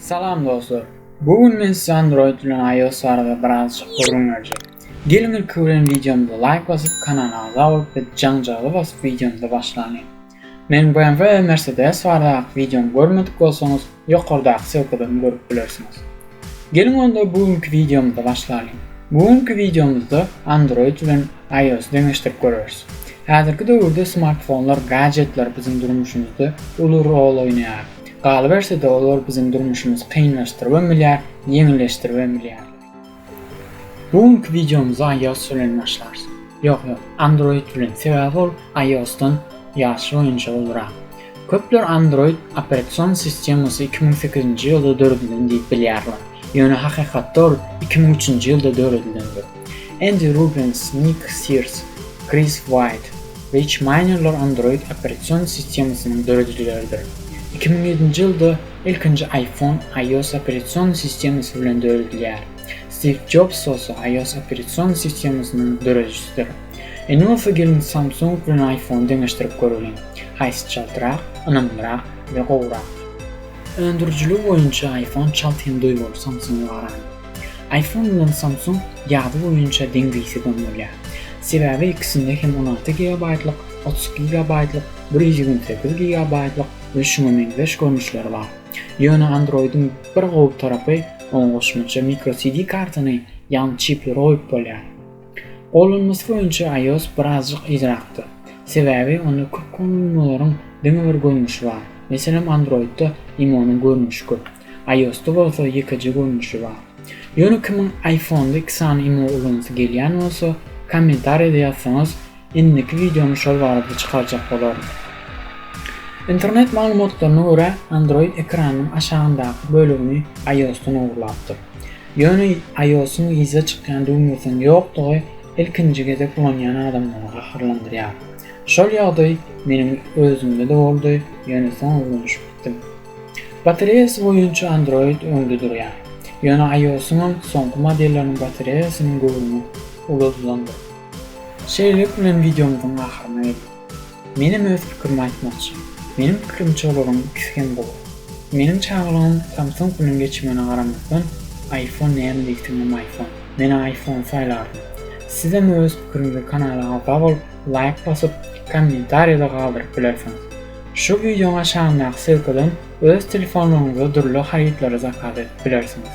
Salam dostlar! Bu gün men size Android bilen iOS barada birazjyk gürrüň berjek. Geliň ilki bilen wideomyza laýk basyp kanala agza bolup we jaňjagaza basyp wideomyza başlalyň. Meniň BMW we Mercedes bardaky wideomy görmedik bolsaňyz ýokardaky sylkadan görüp bilersiňiz. Geliň onda bu günki wideomyza başlalyň. Bu günki wideomyzda Android bilen IOS deňeşdirip göreris. Häzirki döwürde smartfonlar, gadjetler biziň durmuşymyzda uly rol oýnaýar. Galyberse-de olar biziň durmuşymyzy kynlaşdyrybem bilýär, ýeňilleşdiribem bilýärler. Bu günki wideomyzy IOS bilen başlarys. Ýok, ýok, Android bilen, sebäbi ol IOS-dan ýaşy boýunça ulurak. Köpler Android operasion sistemasy iki müň sekizinji ýylda döredilen diýip bilýärler, ýöne hakykatda ol iki müň üçünji ýylda döredilendir. Endi Rubens, Nik Sirs, Kris Waýt, Rich Maýnerler Android operasion sistemasynyň döredijileridir. Iki müň ýedinji ýylda ilkinji iPhone iOS operasion sistemasy bilen döredilýär. Stiv Jobs bolsa iOS operasion sistemasynyň döredijisidir. Indi bolsa geliň Samsung bilen iPhone deňeşdirip göreliň, haýsy çaltrak, ynamlyrak we gowurak? Öndürijiligi boýunça iPhone çalt hem duýguly Samsung-a garanda. Iphone bilen Samsung ýazgy boýunça deň-diýse deň bolýar. Sebäbi ikisinde hem on alty gigabaýtlyk, otuz iki gigabaýtlyk, bir ýüz ýigrimi sekiz gigabaýtlyk we şuňa meňzeş görnüşleri bar. Ýöne Android-iň bir gowy tarapy, oňa goşmaça microSD kartany, ýagny çipleri goýup bolýar. Gollanmasy boýunça iOS birazjyk yzrakda. Sebäbi onda köp gollanmalaryň diňe bir görnüşi bar. Meselem Android-da imonyň görnüşi köp. IOS-da bolsa ýekeje görnüşi bar. Ýöne kimiň iPhone-da iki sany imo ulansy gelýän bolsa, kommentariýada ýazsaňyz Indiki wideony şol barada çykarjak bolaryn. Internet maglumatlaryna görä, Android ekranynyň aşagyndaky bölegini iOS-dan ogurlapdyr. Ýöne iOS-yň yza çykýan düwmesiniň ýokdugy ilkinji gezek ulanýan adamlary gaharlandyrýar. Şol ýagdaý meniň özümde-de boldy, ýöne soň öwrenişip gitdim. Batareýasy boýunça Android öňde durýar. Ýöne iOS-yňam soňky modelleriniň batareýasynyň göwrümi uludandyr. Şeýlelik bilen wideomyzyň ahyryna geldik. Menem öz pikirimi aýtmakçy. Meniň pikirimçe olaryň ikisi hem gowy. Meniň çagalygym Samsung bilen geçmegine garamazdan iPhone näme diýseňem iPhone. Men iPhone saýlardym. Sizem öz pikiriňizi kanala agza bolup laýk basyp kommentariýada galdyryp bilersiňiz. Şu wideoň aşagyndaky ssilkadan öz telefonlaryňyza dürli harytlary zakaz edip bilersiňiz.